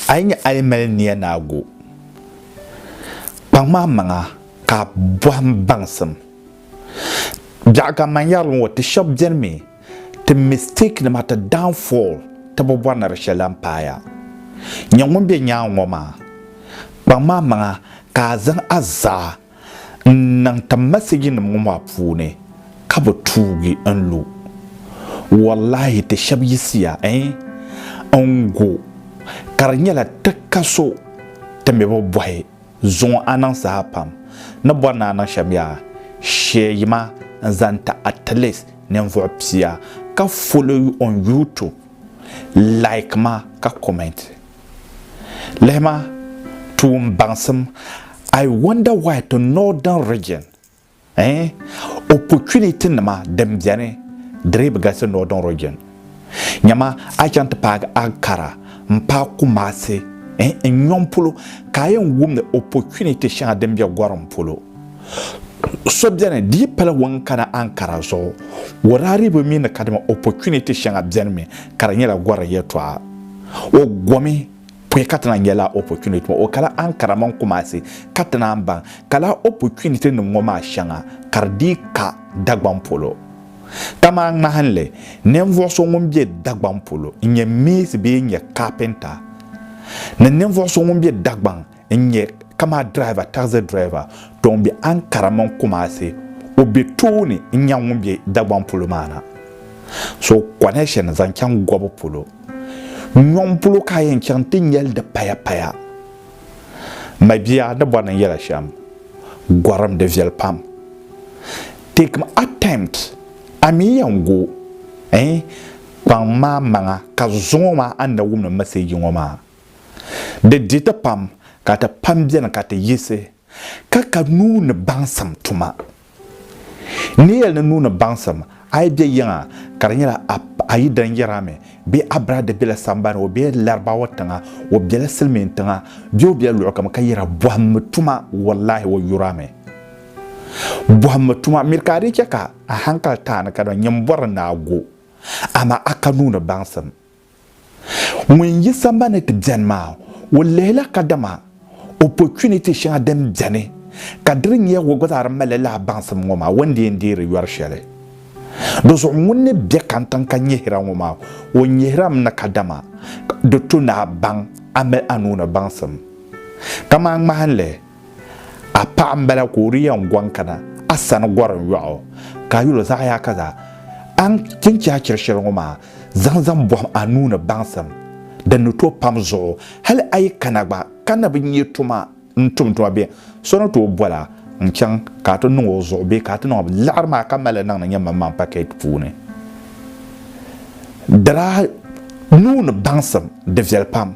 A yi nya a yi mali nia ni a gu, kpaŋm a maŋa ka a bɔhim baŋsim. Biɛɣu ka man yɛri li ŋɔ, ti shɛb beni mi, ti mistake nima, ti downfall, ti bi bɔri ni di shɛli lan paaya. Nya ŋun be nyaaŋ ŋɔ maa, kpaŋm a maŋa ka a zaŋ a zaa N niŋ ti message nim ŋɔ maa puuni ka bi tuugi n lu. Wallahi ti shɛb yiɣisiya ɛɛn n gu ka di nyɛla ti ka so ti mi bi bɔhi zuŋɔ a niŋ saha pam ni bɔri ni a niŋ shɛm yaa sheei ma n zaŋ ti at least ninvuɣu pia ka follow you on YouTube like ma ka comment. Lihima tuun baŋsim I wonder why to northern region eh opportunity nima din beni di dii bi galisi northern region nyama a yi chaŋ ti paagi Ankara n paai Kumasi eh n nyoŋ polo ka a yɛn wumdi opportunity shɛŋa din be gorim polo So beni di yi pali wan kana ankara zuɣu warariba mi ni kadima opportunity shɛŋa beni mi ka di nyɛla gɔri yɛltɔɣa. O gomi pɔi ka ti naan nya lala opportunity maa. O kala Ankara mini Kumasi ka ti naan baŋ ka lala opportunity nim ŋɔ maa shɛŋa ka di dii ka Dagbaŋ polo. Kamani ŋmahinli, ninvuɣ so ŋun be Dagbaŋ polo n-nyɛ mees bee n-nyɛ carpenter ni ninvuɣ so ŋun be Dagbaŋ n nyɛ kamani driver, taxi driver to n be Ankara mini Kumasi, o be tooni n nya ŋun be Dagbaŋ polo maa na. So connection zaŋ chaŋ Gobu polo. Nyɔŋ polo ka a yɛn chaŋ ti nyɛli di paya paya. Mabia ni bɔri ni n yɛla shɛm, gorim di viɛli pam. Take m attempt a mi yɛn go eh kpaŋ maa maŋa ka zuŋɔ maa a ni na wumdi message ŋɔ maa. Di di ti pam ka ti pam beni ka ti yiɣisi ka ka nuu ni baŋsim tuma. N ni yɛli ni nuu ni baŋsim, a yi be yiŋa ka di nyɛla a yidana yɛra mi bee a biraada bela sambani o bela Larabawa tiŋa o bela silimiin tiŋa bee o bela luɣikam ka yɛra bɔhimmi tuma wallahi o yura mi. Bɔhimmi tuma miri ka a dii chɛ ka a hankali taai ni ka di nyini bɔri ni a go amaa a ka nuu ni baŋsim. Ŋun yi sambani ti beni maa, o lihila kadama opportunity shɛŋa din beni ka diri nyɛ o gba zaa di mali lahi baŋsim ŋɔ maa, o ni di yɛn deeri yɔri shɛli. Di zuɣu ŋun ni be kantiŋ ka nyihira ŋɔ maa, o nyihirami ni kadama di to ni a baŋ a mali a nuu ni baŋsim. Kamani ŋmahinli. A paɣa m-bala ka o di yɛn gɔŋ kana a sani gɔrim yɔɣu, ka a yɛl o zaɣ yaakaza, A ni ti chɛ a chiri shɛli ŋɔ maa, zaŋ zaŋ bɔhim a nuu ni baŋsim din ni tooi pam zuɣu. Hal a yi kana gba ka na bi nya tuma n-tum tuma bee, so ni tooi bol a n-chaŋ ka a ti niŋ o zuɣu bee ka a ti niŋ liɣiri maa ka mali li niŋdi nyɛmmaŋmaŋ pakɛt puuni. Dara nuu ni baŋsim, di viɛli pam.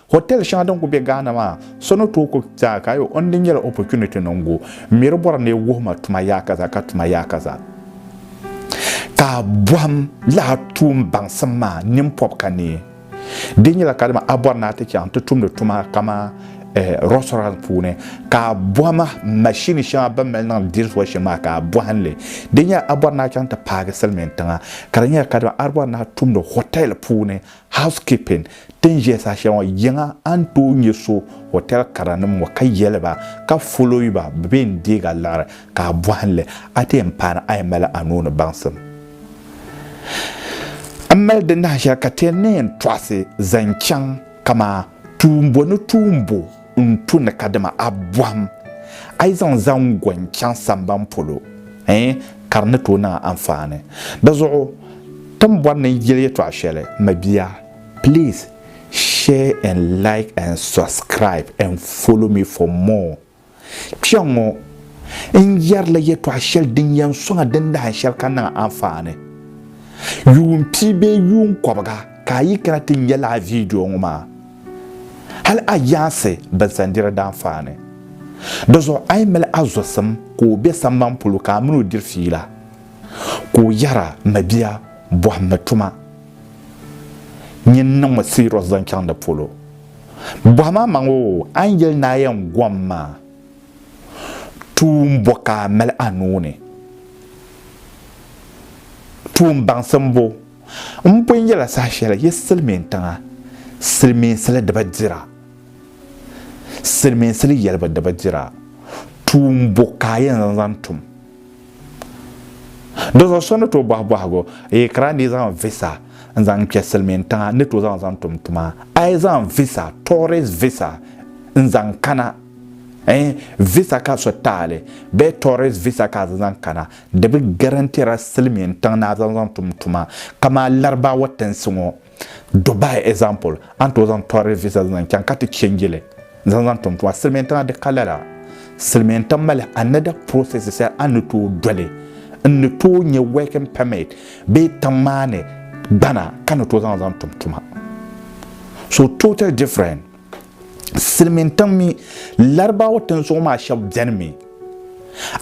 Hotel shɛŋa din kuli be Ghana maa, so ni tooi kuli zaa ka ayi o ni di nyɛla opportunity ni n-gu mi di bɔri ni yi wuhi ma tuma yaakaza ka tuma yaakaza ka a bɔhim lala tuun baŋsim maa nini pɔbi ka neei. Di nyɛla kadama a bɔri ni a ti chaŋ ti tumdi tuma kaman restaurant puuni ka a bɔhim machine shɛŋa bɛ mali niŋdi dish washing maa ka a bɔhim li. Di nyɛla a bɔri ni a chaŋ ti paagi silimiintiŋa ka di nyɛla kadama a bɔri ni a tumdi hotel puuni Housekeeping, Ti ni ʒiya saha shɛli ŋɔ, yiŋa a ni tooi nyɛ so hotel karanim ŋɔ ka yɛli ba ka follow ba bɛ bee n deeg a liɣiri ka a bɔhim li, a ti yɛn paani a yi mali a nuu ni baŋsim. M mali di nahi shɛli ka ti yɛn ni yɛn tɔɣisi zaŋ chaŋ kamaa tuumbo ni tuumbo. N tu ni kadama a bɔhim a yi zaŋ zaŋgɔn chaŋ samban polo, ɛɛn, ka di ni tooi niŋ a anfaani. Di zuɣu ti ni bɔri ni n yeli yɛtɔɣa shɛli, mabia, please share and like and subscribe and follow me for more. Kpɛŋɔ n yɛrila yɛtɔɣa shɛli din yɛn sɔŋ a din dahin shɛli ka niŋ a anfaani yuun pia bee yuun kɔbiga. Ka a yi kana ti nya lala viidiyo ŋɔ maa, hal a yaansi binsandira daa faani. Dizuɣu a yi mali a zusim ka o be samban polo ka a mini o diri fiila, ka o yɛra, Mabia, bɔhimmi tuma. Nyin n-niŋ ma siriyɔs zaŋ chaŋ di polo. Bɔhim amaŋ o a ni yɛli ni a yɛn gom maa, tuun bɔ ka a mali a nuu ni? Tuun baŋsim bɔ? M pun yɛla saha shɛli yi silimiin tiŋa, silimiinsili di bi dira. Silimiinsili yɛlibu di bi dira. Tuun bo ka a yɛn zaŋ tum? Dinzuɣu so ni tooi bɔhi bɔhigu, Yi kara ni yi zaŋ visa n-zaŋ kpe silimiin tiŋa n ni tooi zaŋ zaŋ tum tuma? A yi zaŋ visa, tourist visa, n-zaŋ kana, ɛɛn, visa ka so taali bee tourist visa ka a zaŋ zaŋ kana, Di bi garantira silimiin tiŋ ni a zaŋ zaŋ tum tuma kamani Larabawa tinsi ŋɔ Dubai example a ni tooi zaŋ tourist visa zaŋ chaŋ ka ti change li zaŋ zaŋ tum tuma silimiin tiŋa di ka lala silimiin tiŋ mali another process shɛli a ni tooi doli n ni tooi nyɛ working permit bee tiŋ maa ni gbana ka ni tooi zaŋ zaŋ tum tuma so total different. silimiin tiŋ mi Larabawa tinzuɣu maa shɛba beni mi.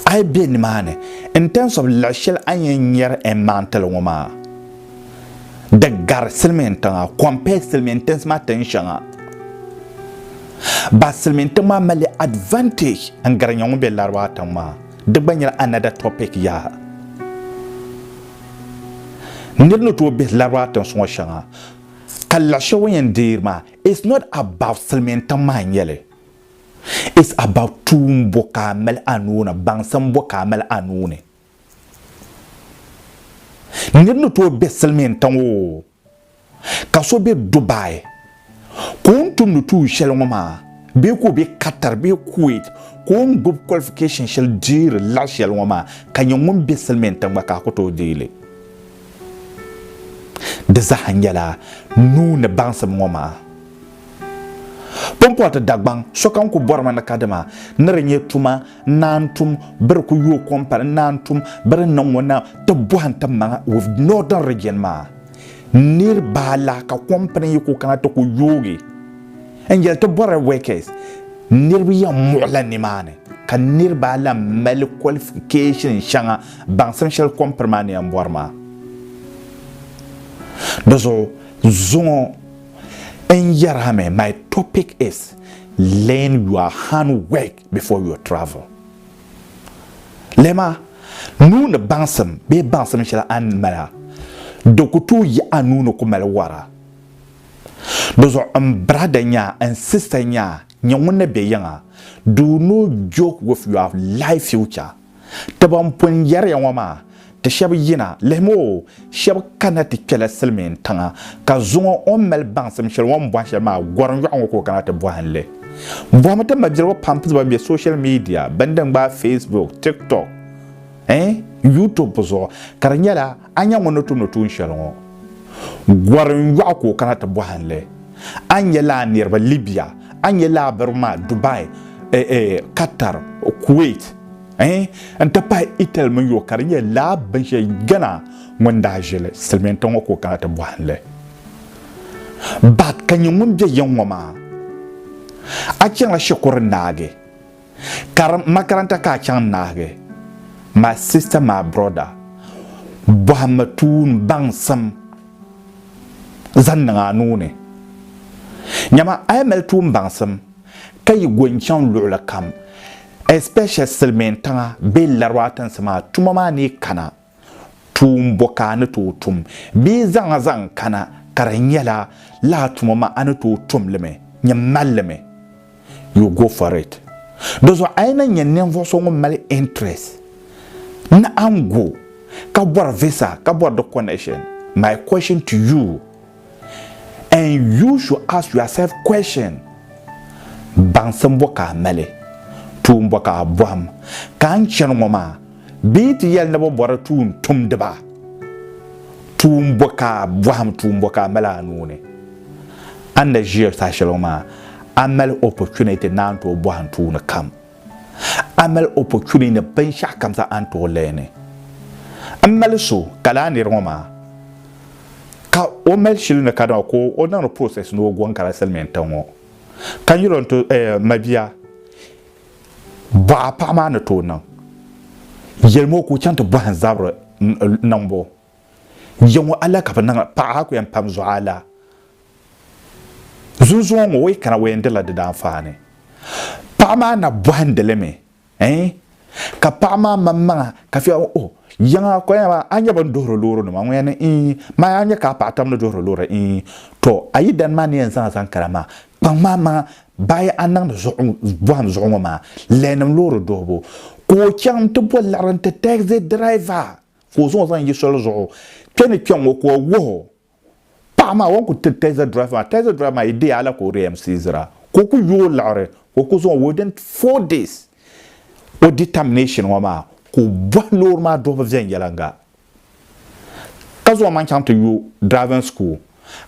A yi be nimaani in terms of laɣ shɛli a ni yɛn nyari N maŋtili ŋɔ maa, di gari silimiin tiŋa compared silimiin tinsi maa tin shɛŋa. Ba silimiin tiŋ maa mali advantage n gari nya ŋun be Larabawa tiŋ maa, di gba nyɛla another topic yaha. Nir ni tooi bihi Larabawa tinsi ŋɔ shɛŋa ka laɣ shɛli o ni yɛn deeri maa, It's not about silimiintiŋ maha nyɛli, it's about tuun bɔ ka a mali a nuu ni, baŋsim bɔ ka a mali a nuu ni. Nir ni tooi be silimiintiŋ oo, ka so be Dubai ka o ni tumdi tuun shɛli ŋɔ maa bee ka o be Qatar bee Kuwait ka o ni gbubi qualification shɛli deeri laɣ shɛli ŋɔ maa ka nyɛ ŋun be silimiintiŋ gba ka a ku tooi deei li. Di zaa nyɛla nuu ni baŋsim ŋɔ maa pumpɔriti Dagbaŋ sokam ku bɔrimi ni kadama ni di nyɛ tuma n-naan tum bɛ di ku yooi kom pali n-naan tum bɛ di niŋ ŋɔ na ti bɔhi n-ti maŋa with Northern Region maa niriba alahi ka kom pini yi ku kana ti ku yoogi n-yɛli ti bɔri workers niriba yɛn muɣila nimaani ka niriba alahi mali qualification shɛŋa Baŋsim shɛli kom piri maa ni yɛn bɔri maa. Di zuɣu zuŋɔ n yɛri a mi my topic is learn your hand work before your travel. Lɛma nuu ni baŋsim bee baŋsim shɛli a ni mali a di ku tooi yi a nuu ni ku mali wari a. Di zuɣu n brada nyaa n sista nyaa nyɛ ŋun ni bɛ yiŋa do no joke with your life future. Ti ban pun yɛriya ŋɔ maa, ti shɛb yina, lihim o, shɛb kanna ti kpɛla silimiin tiŋa, ka zuŋɔ o ni mali baŋsim shɛli o ni bɔhi shɛli maa gɔrim yɔɣu ŋɔ ka o kana ti bɔhi n li. Bɔhimi ti mabiligu pampiz ban be social media, bɛn di n-gbaai Facebook, TikTok, eh, YouTube zuɣu, ka di nyɛla. A nya ŋun ni tumdi tuun shɛli ŋɔ? Gɔri n-yɔɣu ka o kana ti bɔhi n li. A nya lala niriba Libya, a nya lala barigu maa Dubai, Qatar, Kuwait eh, n-ti pahi Italy mini UK. Ka di nyɛ lala binshɛli Ghana ŋun daa ʒili silimiin tiŋ ŋɔ ka o kana ti bɔhi n li. But ka nya ŋun be yiŋ ŋɔ maa. A chaŋla Shikuru Naagi. Karim makaranta ka a chaŋ naagi my sister my brother bɔhimmi tuun baŋsim zaŋ niŋ a nuu ni. Nyama a yi mali tuun baŋsim ka yi go n-chaŋ luɣili kam especially Silimiintiŋa bee Lariba tinsi maa tuma maa ni yi kana Tuun bɔ ka a ni tooi tum bee zaŋ a zaŋ kana ka di nyɛla lala tuma maa a ni tooi tum li mi? Nyin mali li mi. You go for it. Dizuɣu a yi na nya ninvuɣ so ŋun mali interest naɣingu ka bɔri visa ka bɔri di connection, my question to you, And you should ask yourself question, Baŋsim bɔ ka a mali? Tuun bɔ ka a bɔhim ka n chani ŋɔ maa? Bɛ yi ti yɛli ni bɛ bɔri tuun tumdiba? Tuun bɔ ka a bɔhim, tuun bɔ ka a mali a nuu ni? A ni ʒiya saha shɛli ŋɔ maa, a mali opportunity ni a ni tooi bɔhim tuuni kam. A mali opportunity ni binshɛɣu kam zaa a ni tooi learni. M mali so ka lala nir ŋɔ maa ka o mali shili ni ka dama ka o niŋdi process ni o gɔŋ ka lala silimiin tiŋ ŋɔ ka nyuli o ni tooi eh mabia bɔɣa paɣa maa ni tooi niŋ yɛlimi o ka o chaŋ ti bɔhim zabiri niŋbu. Yiŋɔ a la ka bɛ niŋ a paɣa a ku yɛn pam zuɣu a la zunzuŋɔ ŋɔ o yi kana o yɛn dila di daanfaani paɣa maa na bɔhindi li mi ɛɛn ka paɣa maa maŋmaŋa ka fiya oh Yiŋa a kɔya maa a nya bɛ ni duhiri loorinima ŋɔ ya ni ii maa a nya ka a paɣa tam ni duhiri loori ii tɔ a yidana maa ni yɛn zaŋ a zaŋ kana maa kpaŋ maa maŋa bayi a niŋdi zuɣu bɔhim zuɣu ŋɔ maa lɛɛnim loori duhibu ka o chaŋ nti bɔ liɣiri nti taɣizi diraiva ka o zaŋ o zaŋ yi soli zuɣu kpe ni kpe ŋɔ ka o wuhi o paɣa maa o ni ku tiri tazi driver maa tazi driver maa yi deei a la ka o di MC zira ka o ku yooi liɣiri ka o ku zaŋ within four days o di termination ŋɔ maa ka o bɔhi loori maa duhibu viɛnyɛliŋga ka zaŋ o maŋ chaŋ ti yu driving school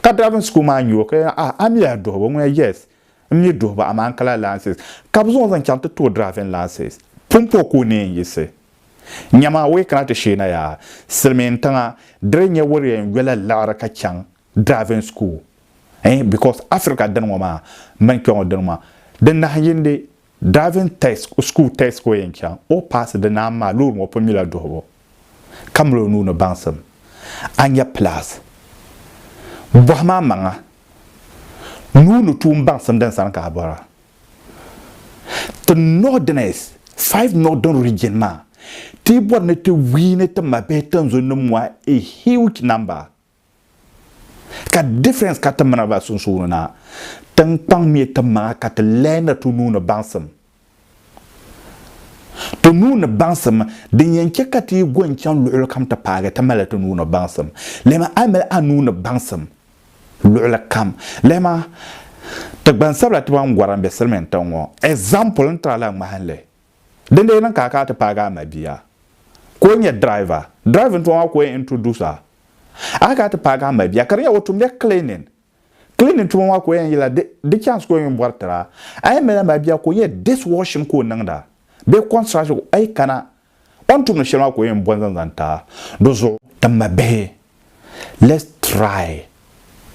ka driving school maa nya o ka yɛli ah a mi a duhibu ŋuna yes n mi duhibu amaa n kala license ka bɛ zaŋ o zaŋ chaŋ ti ti o driving license pumpɔŋ ka o ni yɛn yiɣisi Nyama o yi kana ti sheei na yaa silimiin tiŋa diri nyɛ wuri yɛn yola liɣiri ka chaŋ driving school eh because Africa dini ŋɔ maa mini kpeŋɔ dini maa di nahin yindi driving test school test ka o yɛn chaŋ o paasi di naan maa loori ŋɔ pun nyula duhibu ka mali o nuu ni baŋsim a nya plus bɔhim a maŋa nuu ni tuun baŋsim din sani ka a bɔra. Ti Northerners, Five Northern Region maa, ti bɔri ni ti wiini ti mabihi tinzun nim ŋɔ a huge number. Ka difference ka ti mini ba sunsuuni na, tinkpaŋ ŋmɛ ti maŋa ka ti lahi na ti nuu ni baŋsim. Ti nuu ni baŋsim, din yɛn chɛ ka ti yi go n-chaŋ luɣilikam ti paagi ti mali ti nuu ni baŋsim. Lɛmi a mali a nuu ni baŋsim luɣili kam. Lihima, ti gbansabila ti ban gɔrim be silimin tiŋ ŋɔ example n-tira la ŋmahinli. Di n-lee niŋ ka a kana ti paagi a mabia ka o nyɛ driver, driving tuma maa ka o yɛn introduce a. A kana ti paagi a mabia ka di nyɛ o tumdila cleaning, cleaning tuma maa ka o yɛn yila di chance ka o yɛn bɔri tira. A yɛn mali a mabia ka o nyɛ dishwashing ka o niŋda bee construction ka o yɛn kana O ni tum ni shɛli maa ka o yɛn bɔn zaŋ zaŋ ta di zuɣu. N ma bihi, let's try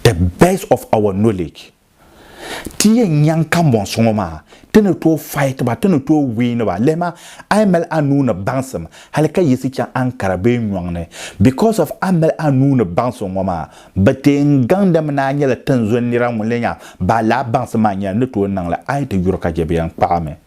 the best of our knowledge ti yɛn nyaŋ kambɔnsi ŋɔ maa ti ni tooi fight ba, ti ni tooi win ba. Lihima, a yi mali a nuu ni baŋsim hali ka yiɣisi chaŋ Ankara bee nyɔŋ ni, because of a ni mali a nuu ni baŋsim ŋɔ maa, bɛ ti yɛn gaŋdimi ni a nyɛla tinzɔn nira ŋun lee nya baa lala baŋsim maa nyɛla ni tooi niŋ li a yi ti yuri ka chɛ bɛ yɛn kpaɣi mi.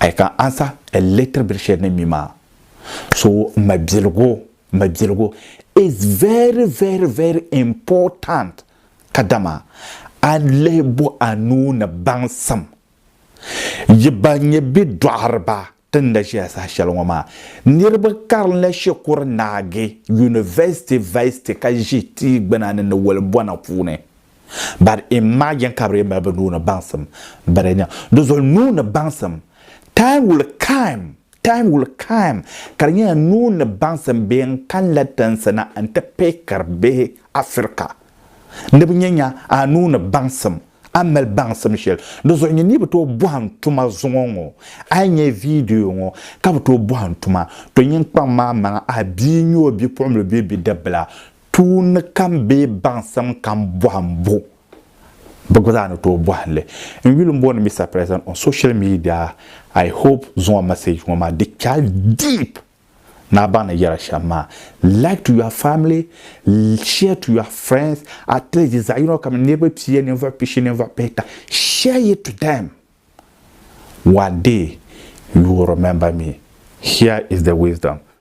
I can answer a little bit share ni mi maa so mabiligu mabiligu is very very very important ka dama a lihi bo a nuu ni baŋsim yi ba nye bi dɔɣiriba ti ni da ʒeya saha shɛli ŋɔ maa niriba karinla shikuru naagi university vice ti ka ʒi tii gbuna ni ni woli bona puuni. But imagine ka bɛ lee mali bɛ nuu ni baŋsim biri nya. Di zuɣu nuu ni baŋsim, time will come, time will come ka di nyɛla nuu ni baŋsim bee n kanila tinsi na n ti pihikiri bihi Afirika ni bɛ nya nya a nuu ni baŋsim, a ni mali baŋsim shɛli. Di zuɣu nyin ni bi tooi bɔhim tuma zuŋɔ ŋɔ, a yi nya video ŋɔ ka bi tooi bɔhim tuma, to nyin kpaŋ maa maŋa a bia n-nyɛ o bipuɣimbila bee bidib bila, Tuunni kam bee baŋsim kam bɔhimbu, bɛ gba zaa ni tooi bɔhim li. N yuli m-booni Mister President on social media, I hope zuŋɔ message ŋɔ maa di chal deep ni a baŋ ni yɛra shɛm maa. Like to your family, share to your friends, at least di zaɣiyino kam niriba pia, ninvuɣ pishi, ninvuɣ pihita, share it to them. One day you will remember me. Here is the wisdom.